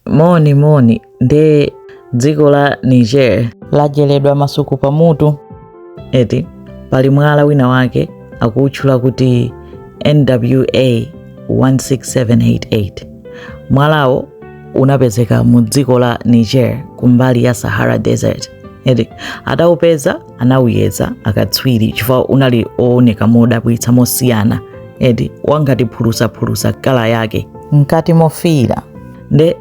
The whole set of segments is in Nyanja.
Moni moni nde dziko la Niger lajeledwa masuku pamutu eti pali mwala wina wake akuutchula kuti NWA 16788 mwalawo unapezeka mu dziko la Niger kumbali ya Sahara Desert eti ataupeza anawuyeza akatswiri chifukwa unali owoneka modabwitsa mosiyana eti wangati phulusaphulusa kala yake mkati mofiira nde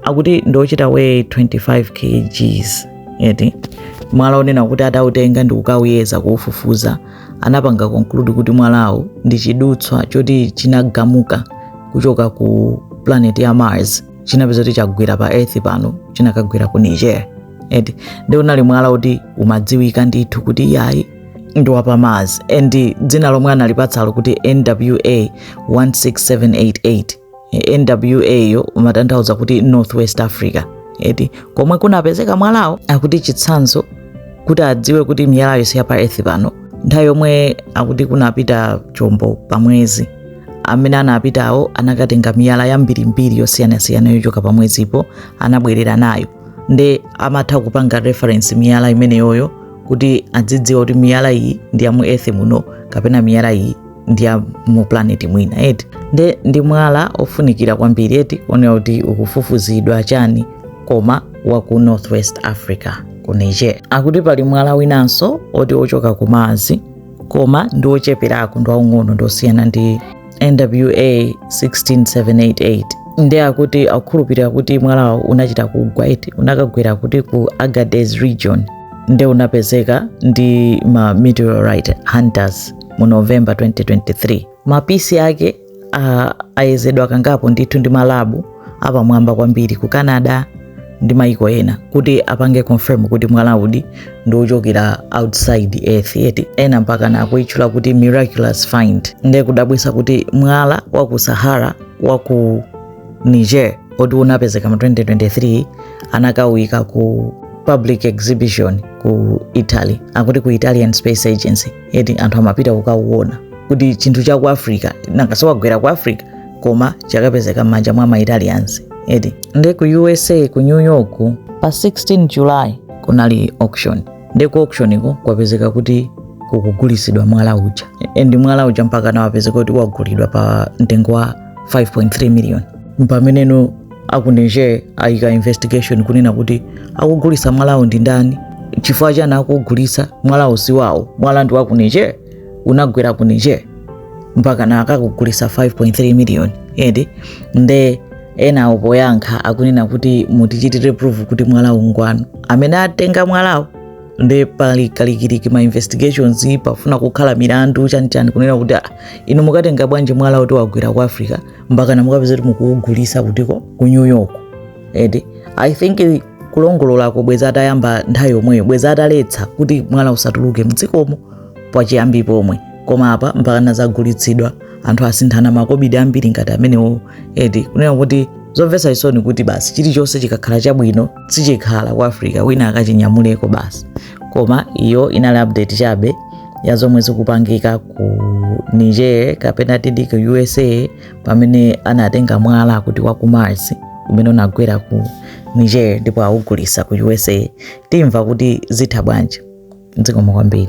akuti ndi ochita weigh 25 kgs eti mwalawo kunena kuti atautenga ndi kukawuyeza kuufufuza anapanga conclude kuti mwalawo ndi chidutswa choti chinagamuka kuchoka ku planet ya mars chinapezeka kuti chagwira pa earth pano chinakagwira ku niger eti nde unali mwala woti umadziwika ndithu kuti iyayi ndi wa pa mars and dzina lomwe analipatsalo kuti nwa 16788 nwa yo imatanthauza kuti northwest africa eti komwe kunapezeka mwalawo akuti chitsanzo kuti adziwe kuti miyalayo si yapa earth pano nthawi yomwe akuti kunapita chombo pamwezi amene anapitawo anakatenga miyala yambirimbiri yosiyanasiyana yochoka pamwezipo anabwerera nayo nde amatha kupanga reference miyala imeneyoyo kuti adzidziwa kuti miyala iyi ndi ya mu earth muno kapena miyala iyi ndi ya mu planet ina eti nde ndi mwala ofunikira kwambiri eti ofunika kuti ufufuzidwe chani koma wa ku northwest africa ku niger akuti pali mwala winanso oti ochoka ku mars koma ndi ocheperako ndi waung'ono ndi osiyana ndi nwa 16788 nde akuti akukhulupirira kuti mwalawo unachita kugwa eti unakagwera kuti ku agadez region nde unapezeka ndi ma meteorite hunters mu november 2023 mapisi ake ayezedwa kangapo ndithu ndi malabu apamwamba kwambiri ku canada ndi maiko ena kuti apange confirm kuti mwalawudi ndi ochokera outside earth eti ena mpaka nakuutchula kuti miraculous find nde kudabwisa kuti mwala wa ku sahara wa ku niger oti unapezeka mu 2023 anakauyika ku public exhibition ku italy akuti ku italian space agency eti anthu amapita kukauona kuti chinthu cha ku africa nanga si wagwera ku africa koma chakapezeka m'manja mwa maitalians eti nde ku usa ku new york pa 16 july kunali auction nde ku auction ko kwapezeka kuti kukugulisidwa mwala uja and mwala uja mpaka wapezeka kuti wagulidwa pa mtengo wa 5.3 million mpameneno aku Niger ayika investigation kunena kuti akugulisa mwalawo ndi ndani chifukwa chani akugulisa mwalawo si wawo mwala ndi wa ku Niger unagwera ku Niger mpaka na akakugulisa 5.3 million edi nde ena opoyankha akunena kuti mutichitire proof kuti mwalawo ngwanu amene atenga mwalawo nde pali kalikiliki ma investigations pafuna kukhala milandu chanichani kunena kuti ah, inu mukatenga bwanji mwala kuti wagwera ku africa mpaka namukapeza kuti mukuugulisa kutiko ku new york edi i think kulongololako bwezi atayamba nthawi yomweyo bwezi ataletsa kuti mwala usatuluke mdzikomo pachiyambi pomwe koma apa mpaka nazagulitsidwa anthu asinthana makobidi ambiri ngati amenewo edi kunena kuti zomvetsa chisoni kuti basi chilichonse chikakhala chabwino sichikhala ku africa wina akachinyamuleko basi koma iyo inali update chabe ya zomwe zikupangika ku niger kapena tidi ku usa pamene anatenga mwala kuti wa ku mars umene unagwera ku niger ndipo awugulisa ku usa timva kuti zitha bwanji zikomo kwambiri